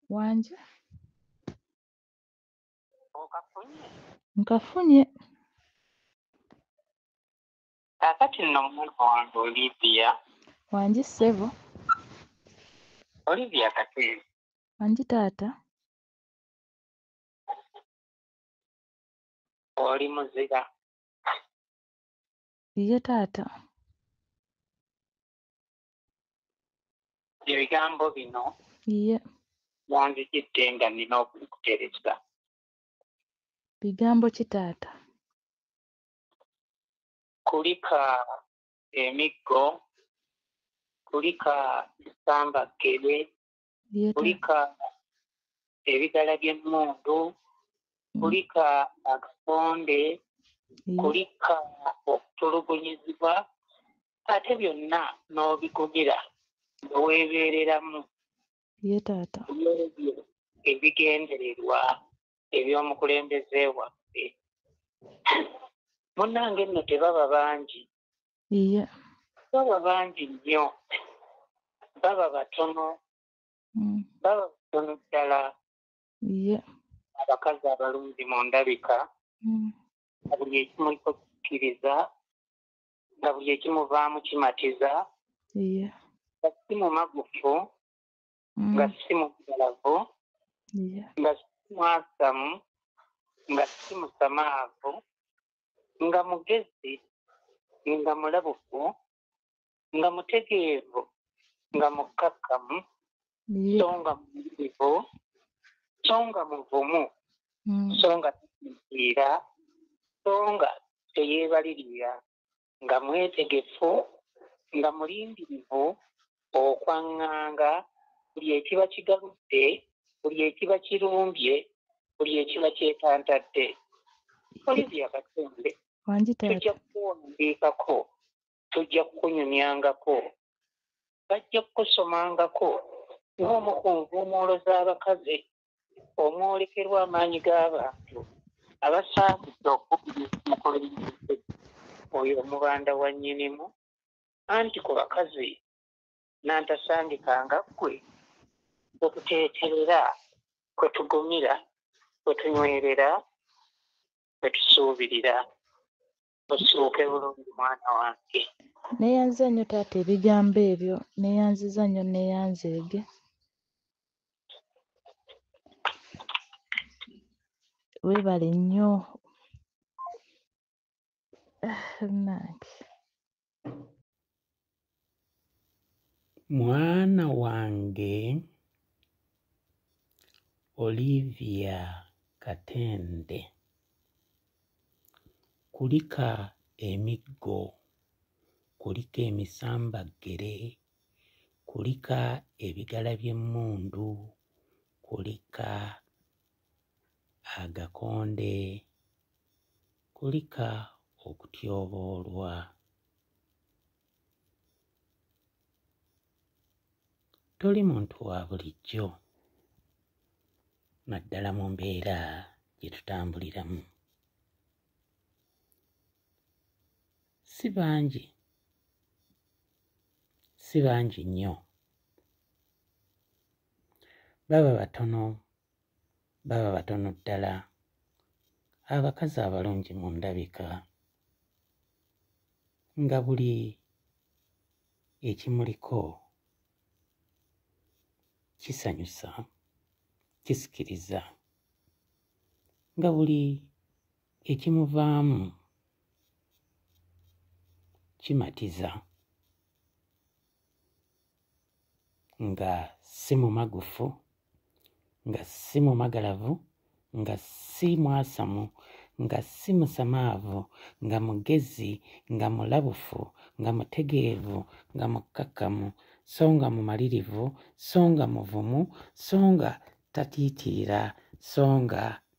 wanje nkafunye kakati nno mwana wange olivia wanji ssebo olivia kati wanji taata oli muzira ye taata ebigambo bino wanzijidde nga nina okukutereza bigambo ki taata kulika emiggo kulika esambaggere kulika ebigala by'emmundu mm. kulika akakonde mm. kulika okutulugunyizibwa ate byonna n'obigumira nga weebeereramu ye taata ebyo ebigendererwa eby'omukulembeze waffe munnange nno tebaba bangi iya baba bangi nnyo baba batono mm. baba batono ddala iya abakazi abalungi mu ndabika mm. buli ekimuliko kikkiriza nga buli ekimuvaamu kimatiza iya si mumagufu mm. nga si mugalavu nga si mwasamu nga si musamaavu nga mugezi nga mulabufu nga mutegeevu nga mukkakkamu so nga muivu so nga muvumu mm. so nga tasinziira so nga teyeebalirira nga mwetegefu, nga mulindirivu okwaŋŋanga buli ekiba kigaludde, buli ekiba kirumbye, buli ekiba kyetantadde. Olivia Katende, Wangi tujja taata. kukuwandiikako, tujja kukunyumyangako, bajja kukusomangako ng'omu ku nvuumuulo z'abakazi omwolekerwa amaanyi g'abantu abasaanidde okukkiriza enkola ey'ensi oyo Omubanda wa Nnyinimu, anti ku bakazi nnantasangika nga ggwe kwe tuteeterera, kwe tugumira, kwe tunywerera, kwe tusuubirira. ossuuke bulungi mwana wange neyanziza nnyo taata ebigambo ebyo neyanziza nnyo neyanzeege webale nnyo nange mwana wange Olivia Katende kulika emiggo kulika emisambaggere kulika ebigala by'emmundu kulika agakonde kulika okutyoboolwa toli muntu wa bulijjo naddala mu mbeera gye tutambuliramu si bangi si bangi nnyo baba batono baba batono ddala abakazi abalungi mu ndabika nga buli ekimuliko kisanyusa kisikiriza nga buli ekimuvaamu kimatiza nga si mumagufu nga si mumagalavu nga si mwasamu nga si musamaavu nga mugezi nga mulabufu nga mutegeevu nga mukkakkamu so nga mumalirivu so nga muvumu so nga tatiitiira so nga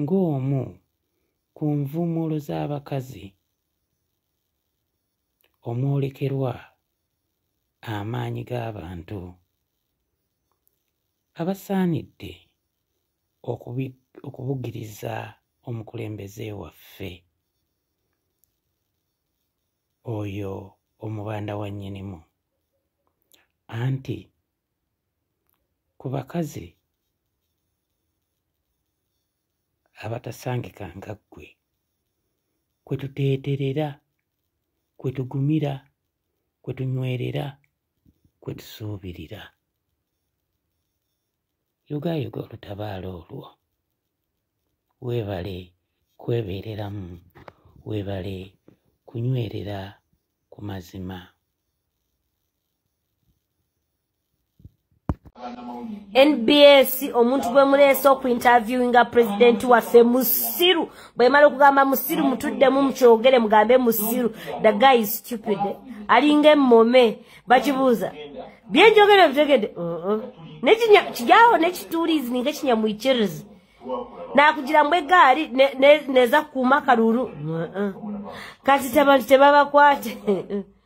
ng'omu ku nvuumuulo z'abakazi omwolekerwa amaanyi g'abantu abasaanidde okubugiriza omukulembeze waffe oyo omubanda wa nnyinimu anti ku bakazi abatasangika nga ggwe kwe tuteeterera kwe tugumira kwe tunywerera kwe tusuubirira yogaayoga olutabaalo olwo weebale kwebeereramu weebale kunywerera ku mazima nbs omuntu gwe muleese oku interviewinga president waffe musiru bwemala okugamba musiru mutuddemu mukyogere mugambe musiru the guy is stupid alinga emome bakibuuza byenjogere bitegede uh-uh. nekijawo nekitulizi ninga ekinyamuikirizi nakugira mbu egaali neza kuuma kalulu uh-uh. kati tabantu tebabakwate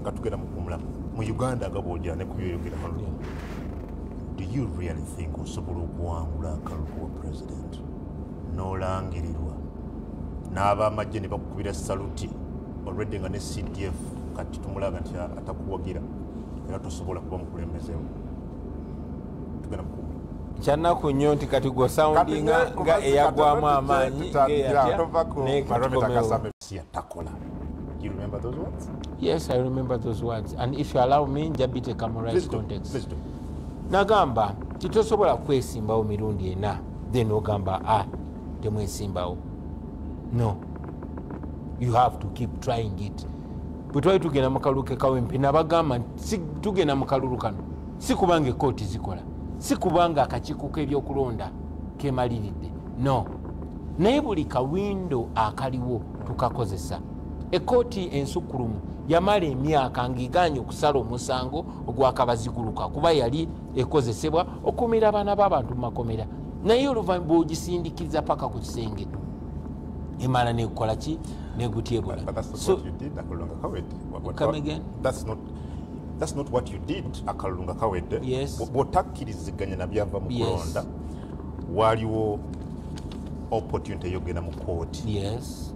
nga tugenda mukumula mu uganda nga bwojana nekubyoyogera hano do you really think osobola okuwangula akalulu wa president nolangirirwa n'abamajje ne bakukubira saluti olwedde nga ne cdf kati tumulaga nti atakuwagira era tosobola kuba mukulembezewo tugenda mukumula kyanaku nnyo nti kati gwosoundinga nga eyagwamu amaanyi siyatakola You remember those words? Yes, I remember those words. And if you allow me, Njabite Kamorai's context. Please do. Nagamba, titosobola kwesimbawo mirundi ena. Then ogamba, ah, temwesimbawo. No. You have to keep trying it. Bwe twali tugenda mu kalulu ke kawempe nabagamba nti tugenda mu kalulu kano si kubanga ekkooti zikola si kubanga akakiiko k'ebyokulonda kemaliridde no naye buli kawindo akaliwo tukakozesa ekkooti ensukkulumu yamala emyaka ng'egaanye okusala omusango ogwakabaziguluka kuba yali ekozesebwa okukumira abaana b'abantu mu makomera naye oluvanyuma bwogisindikiza paka ku kisenge emala nekukola ki negutyebula bwotakkiriziganya nabyava mu kulonda waliwo opportunity yogenda mu kooti yes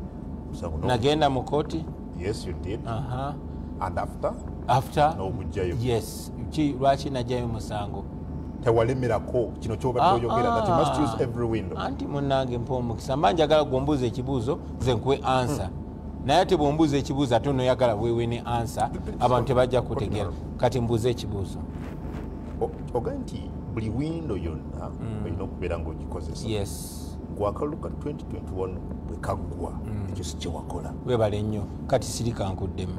nagenda mu kooti yes you did uh -huh. and after after nobujjayo yes ki lwaki najayo musango tewalemerako kino kyobadde ah, oyogera that you must ah. use every window anti munange mpa omukisa mba njagala gwombuuza ekibuuzo nze nkuwe answer hmm. naye ate bwombuuza ekibuuzo ate onoyagala wewe ne answer abantu tebajja kutegeera kati mbuuza ekibuuzo ogaa nti buli windo yonna mm. olina okubeera ngaogikozesa gwakalulu ka 2021 bwekaggwa mm. ekyo sikyewakola webale nnyo kati sirikankuddemu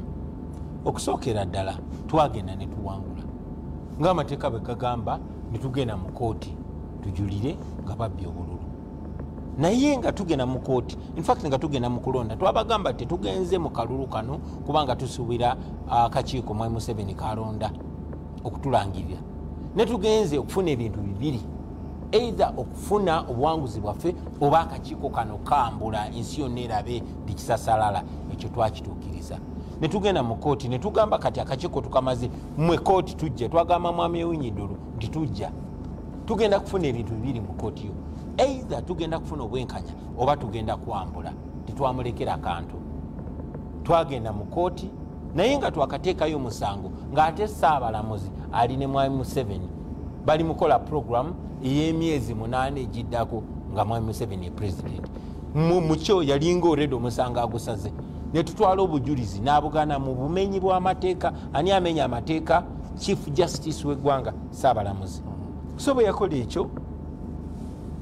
okusookera ddala twagenda netuwangula ngaamateeka bwegagamba netugenda mu kooti tujulire nga babbi obululu naye nga tugenda mu kooti infact nga tugenda mu kulonda twabagamba tetugenze mu kalulu kano kubanga tusubira akakiiko ah, mwai museveni kalonda okutulangirira ne tugenze okufuna ebintu bibiri eitha okufuna obuwanguzi bwaffe oba akakiiko kano kambula ensi yonna erabe tikisasalala ekyo twakituukiriza netugenda mu kooti netugamba kati akakiiko tukamaze mwe kooti tujja twagamba mwami ewinyidulu nti tujja tugenda kufuna ebintu bibiri mu kooti yo eitha tugenda kufuna obwenkanya oba tugenda kwambula tetwamulekera kantu twagenda mu kooti naye nga twakateekayo omusango ng'ate saabalamuzi ali ne mwami museveni bali mukola puroguramu ey'emyezi munaana egiddako nga mwami museveni epulezidenti mukyo yalinga oredi omusango agusaze netutwala obujulizi nabugana mu bumenyi bwamateeka ani amenya amateeka chief justice wegwanga saabalamuzi so bwe yakola ekyo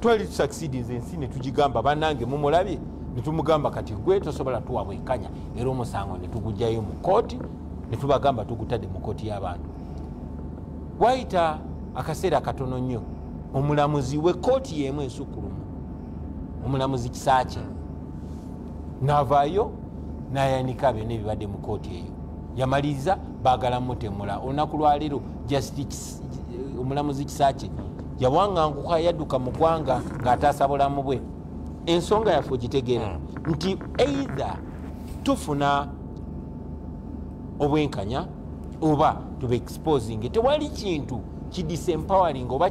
twali tusakisidinza ensi netugigamba banange mumulabye netumugamba kati gwe tosobola tuwabwekanya era omusango ne tugugyayo mu kooti ne tubagamba tugutadde mu kooti y'abantu wayita akaseera katono nnyo omulamuzi wekooti yemu esukkulumu omulamuzi kisaakye navaayo nayanika byona ebibadde mu kooti eyo yamaliriza bagala mutemula olunaku lwaleero omulamuzi kisaakye yawanganguka yadduka mu gwanga ng'ataasa bulamu bwe ensonga yaffe ogitegera hmm. nti either tufuna obwenkanya oba tube exposing tewali kintu kidisempowering oba